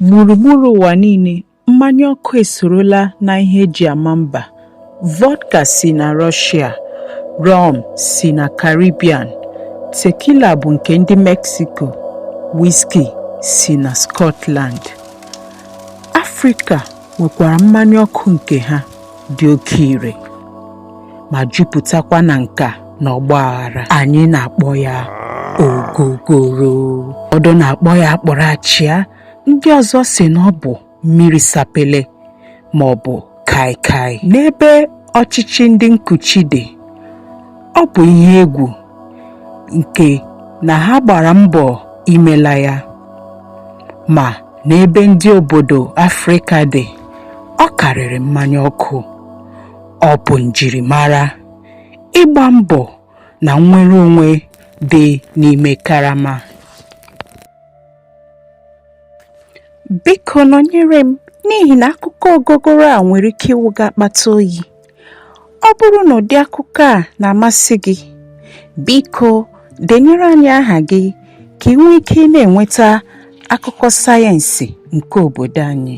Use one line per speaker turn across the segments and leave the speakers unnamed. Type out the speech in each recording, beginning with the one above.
Gburugburu ụwa niile, mmanya ọkụ esorola na ihe eji ama mba. Vodka si na Rọshịa, rọm si na Karibian, tekila bụ nke ndị Meksiko, wiski si na Skọtland. Afrịka nwekwara mmanya ọkụ nke ha. dị oke ire ma jupụtakwa na nka na ọgba aghara anyị na-akpọ ya ogogoro ụfọdụ na-akpọ ya akpụrụ achịa ndị ọzọ sị na ọ bụ mmiri sapele ma ọ bụ kaikai n'ebe ọchịchị ndị nkuchi dị ọ bụ ihe egwu nke na ha gbara mbọ imela ya ma n'ebe ndị obodo Afrịka dị ọ karịrị mmanya ọkụ ọ bụ njirimara ịgba mbọ na nnwere onwe dị n'ime karama biko nọnyere m n'ihi na akụkọ ogogoro a nwere ike ịwụ gị akpata oyi ọ bụrụ na ụdị akụkọ a na-amasị gị biko denyere anyị aha gị ka ị nwee ike na-enweta akụkọ sayensị nke obodo anyị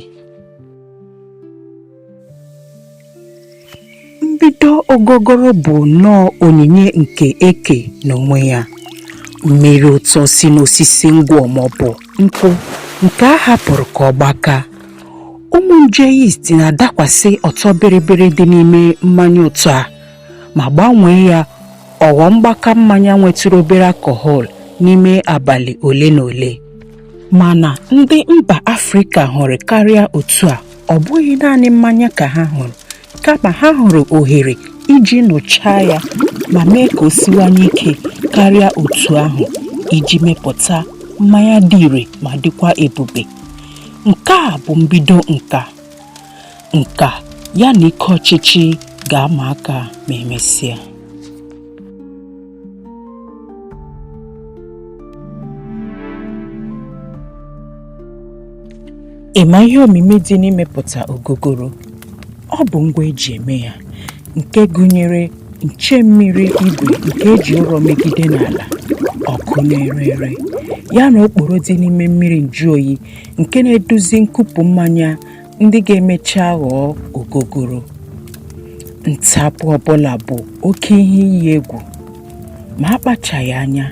mbido ogogoro bụ nnọọ onyinye nke eke n'onwe ya mmiri ụtọ si n'osisi ngwọ maọbụ nkwụ nke a hapụrụ ka ọ gbaka ụmụ nje yeast na-adakwasị ọtọ bịrịbịrị dị n'ime mmanya ụtọ a ma gbanwee ya ọ ghọọ mgbaka mmanya nwetụrụ obere alcohol n'ime abalị ole na ole mana ndị mba afrịka hụrụ karịa otu a ọ bụghị naanị mmanya ka ha hụrụ kama ha hụrụ ohere iji nụchaa ya ma mee ka o siwanye ike karịa otu ahụ iji mepụta mmanya dị ire ma dịkwa ebube nke a bụ mbido nka nke ya na ike ọchịchị ga-ama aka ma emesịa Ị ma ihe omimi dị n'imepụta ogogoro? Ọ bụ ngwa eji eme ya nke gụnyere nche mmiri igwe nke eji ụrọ megide n'ala, ọkụ na-ere ere, ya na okporo dị n'ime mmiri njụoyi nke na-eduzi nkupụ mmanya ndị ga-emecha ghọọ ogogoro ntapụ ọbụla bụ oke ihe iyi egwu ma akpachaghị anya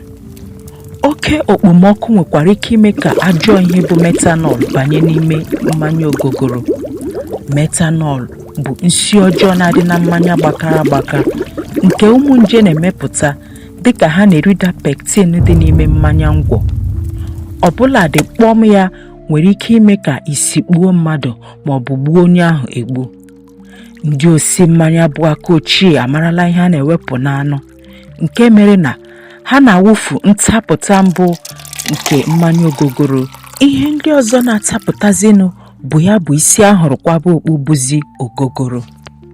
oke okpomọkụ nwekwara ike ime ka ajọ ihe bụ metanọl banye n'ime mmanya ogogoro metanọl bụ nsi ọjọọ na-adị na mmanya gbakara agbaka nke ụmụ nje na-emepụta dịka ha na-erida pektin dị n'ime mmanya ngwọ ọbụladị kpọm ya nwere ike ime ka isi kpuo mmadụ ma ọ bụ gbuo onye ahụ egbu ndị osi mmanya bụ aka ochie amarala ihe a na-ewepụ n'anụ nke mere na ha na-awụfu ntapụta mbụ nke mmanya ogogoro ihe ndị ọzọ na-atapụtazinụ bụ ya bụ isi a hụrụ kwaba okpu bụzi ogogoro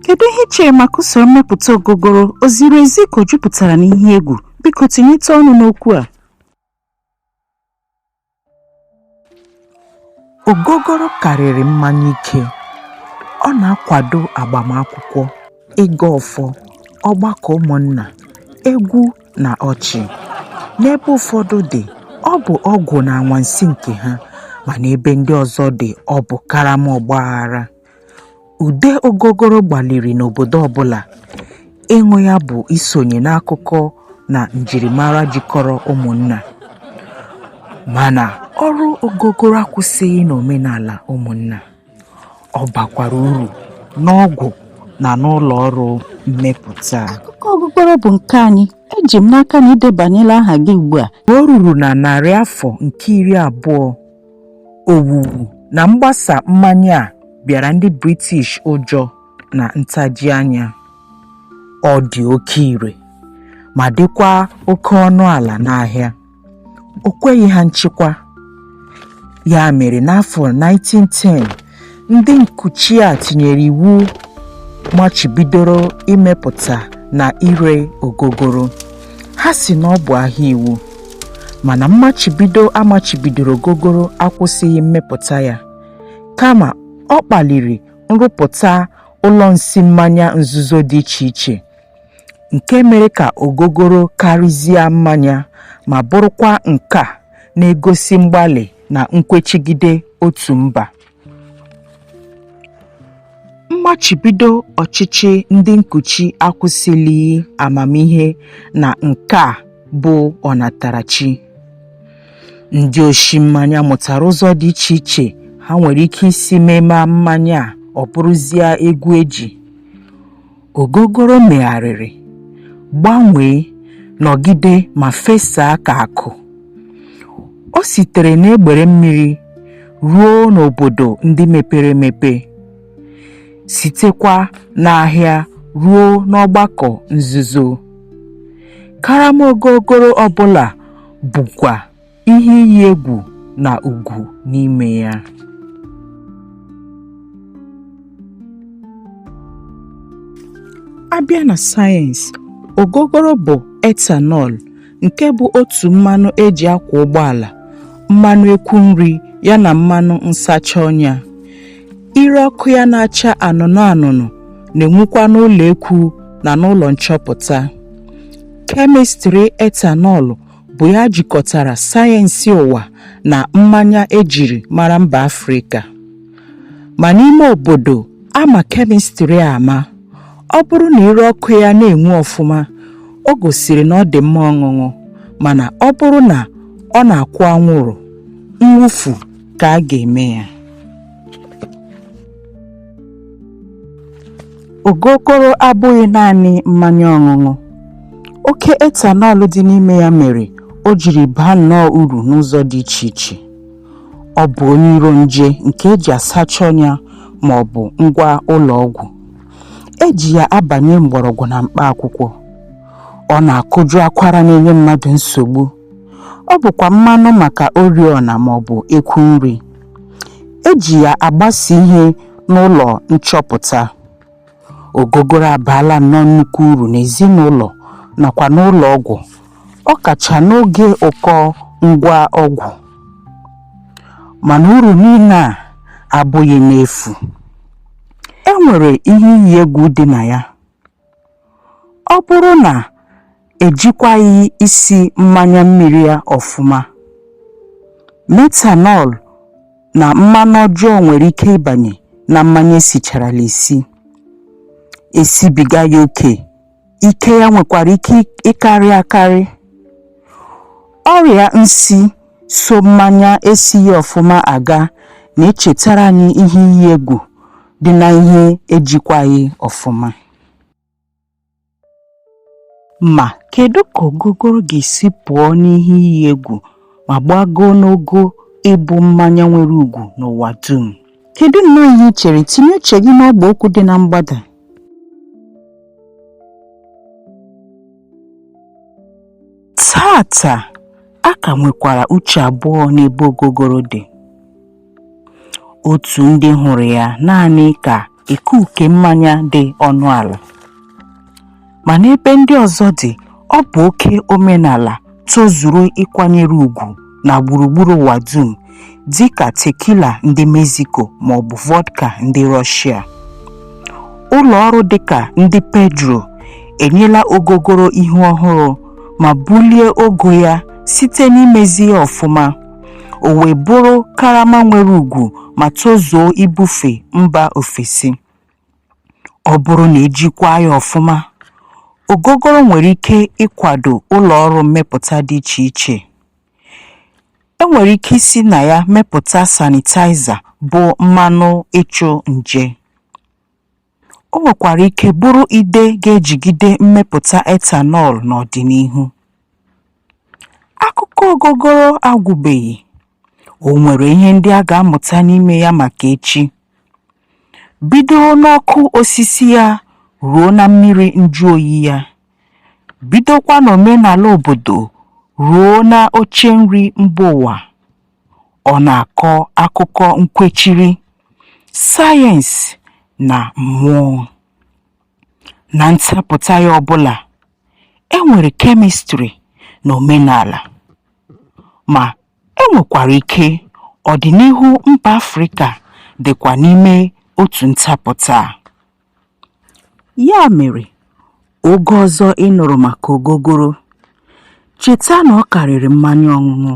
kedu ihe i chere maka usoro mmepụta ogogoro o ziri ezi ka o jupụtara n'ihe egwu biko tinyete ọnụ n'okwu a Ogogoro karịrị mmanya ike. Ọ na-akwado agbamakwụkwọ, ịgọ ọfọ, ọgbakọ ụmụnna, egwu na ọchị. N'ebe ụfọdụ dị, ọ bụ ọgwụ na anwansi nke ha, ma n'ebe ndị ọzọ dị, ọ bụ karama ọgbaghara. Ude ogogoro gbaliri n'obodo ọbụla ịṅụ ya bụ isonye n'akụkọ na njirimara jikọrọ ụmụnna. Mana ọrụ ogogoro akwụsịghị n'omenala ụmụnna. Ọ bakwara uru n'ọgwụ na n'ụlọ ọrụ mmepụta. Akụkọ ogogoro bụ nke anyị. Eji m n'aka na i debanyela aha gị ugbu a. O ruru na narị afọ nke iri abụọ Owuwu na mgbasa mmanya a bịara ndị British ụjọ na ntaji anya. Ọ dị oke ire ma dịkwa oke ọnụ ala n'ahịa. O kweghị ha nchịkwa. Ya mere n'afọ 1910 Ndị nkuchi a tinyere iwu machibidoro imepụta na ire ogogoro. Ha sị na ọ bụ ahịa iwu, mana mmachibido a machibidoro ogogoro akwụsịghị mmepụta ya, kama ọ kpaliri nrụpụta ụlọ nsi mmanya nzuzo dị iche iche, nke mere ka ogogoro karịzie mmanya ma bụrụkwa nka na-egosi mgbalị na nkwechigide otu mba mmachibido ọchịchị ndị nkuchi akwụsịlighị amamihe na nke a bụ ọnatarachi ndị oshi mmanya mụtara ụzọ dị iche iche ha nwere ike isi memaa mmanya a ọ bụrụzie egwu eji Ogogoro megharịrị, gbanwee, nọgide ma fesaa ka akụ. O sitere n'egbere mmiri ruo n'obodo ndị mepere emepe, sitekwa n'ahịa ruo n'ọgbakọ nzuzo. Karama ogogoro ọ bụla bukwa. ihe iyi egwu na ugwu n'ime ya a bịa na sayensị ogogoro bụ etanọl nke bụ otu mmanụ e ji akwa ụgbọala mmanụ ekwu nri ya na mmanụ nsacha ọnya ire ọkụ ya na-acha anụnụ anụnụ na-enwukwa n'ụlọ ekwu na n'ụlọ nchọpụta kemịstrị etanọl bụ ya jikọtara sayensị ụwa na mmanya e jiri mara mba Afrịka. Ma n'ime obodo a ma kemịstrị a ama, ọ bụrụ na ire ọkụ ya na-enwu ọfụma, o gosiri na ọ dị mma ọṅụṅụ, mana ọ bụrụ na ọ na-akwụ anwụrụ, mwụfu ka a ga-eme ya. Ogogoro abụghị naanị mmanya ọṅụṅụ. Oke ethanol dị n'ime ya mere o jiri baa nnọọ uru n'ụzọ dị iche iche. Ọ bụ onye iro nje nke e ji asacha ọnya ma ọ bụ ngwa ụlọ ọgwụ. E ji ya abanye mgbọrọgwụ na mkpa akwụkwọ. Ọ na-akụjụ akwara na-enye mmadụ nsogbu. ọ bụkwa mmanụ maka oriọna ma ọ bụ ekwu nri e ji ya agbasa ihe n'ụlọ nchọpụta ogogoro abaala nnọọ nnukwu uru n'ezinụlọ nakwa n'ụlọ ọgwụ ọ kacha n'oge ụkọ ngwa ọgwụ mana uru niile a abụghị n'efu e nwere ihe iyi egwu dị na ya Ọ bụrụ na ejikwaghị isi mmanya mmiri ya ọfụma, methanol na mmanụ ọjọọ nwere ike ịbanye na mmanya esicharala esi, esibiga ya oke, ike ya nwekwara ike ịkarị akarị. Ọrịa nsi so mmanya esighị ọfụma aga na-echetara anyị ihe iyi egwu dị na ihe ejikwaghị ọfụma. Ma, kedu ka ogogoro ga-esi pụọ n'ihe iyi egwu ma gbagoo n'ogo ịbụ mmanya nwere ugwu n'ụwa dum? Kedu nnọọ ihe i chere? Tinye uche gị n'ọgba okwu dị na mgbada. Taata, a ka nwekwara uche abụọ n'ebe ogogoro dị. Otu ndị hụrụ ya naanị ka ekuke mmanya dị ọnụ ala. Ma n'ebe ndị ọzọ dị, ọ bụ oke omenala tozuru ịkwanyere ugwu na gburugburu ụwa dum dị ka tequila ndị Mexico ma ọ bụ vodka ndị Russia. Ụlọ ọrụ dị ka ndị Pedro enyela ogogoro ihu ọhụrụ ma bulie ogo ya site n'imezi ya ọfụma, o wee bụrụ karama nwere ugwu ma tozuo ibufe mba ofesi. ọ bụrụ na e jikwaa ya ọfụma ogogoro nwere ike ịkwado ụlọ ọrụ mmepụta dị iche iche e nwere ike isi na ya mepụta sanitaiza bụ mmanụ ịchụ nje o nwekwara ike bụrụ ide ga-ejigide mmepụta ethanol n'ọdịnihu akụkọ ogogoro agwụbeghị O nwere ihe ndị a ga-amụta n'ime ya maka echi. Bido n'ọkụ osisi ya ruo na mmiri njụ oyi ya. Bidokwa n'omenala obodo ruo na oche nri mba ụwa. Ọ na-akọ akụkọ nkwechiri, sayensị na mmụọ. Na ntapụta ya ọbụla, e nwere kemịstrị na omenala. Ma, e nwekwara ike ọdịnihu mba Afrịka dịkwa n'ime otu ntapụta a. Ya mere, oge ọzọ ị nụrụ maka ogogoro, cheta na ọ karịrị mmanya ọṅụṅụ.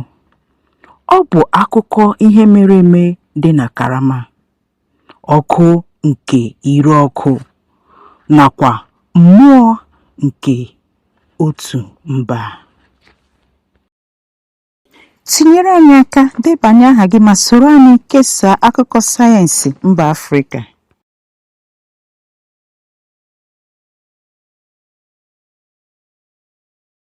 Ọ bụ akụkọ ihe mere eme dị na karama. ọkụ nke ire ọkụ nakwa mmụọ nke otu mba. Tinyere anyị aka, debanye aha gị ma soro anyị kesaa akụkọ sayensị mba Afrịka.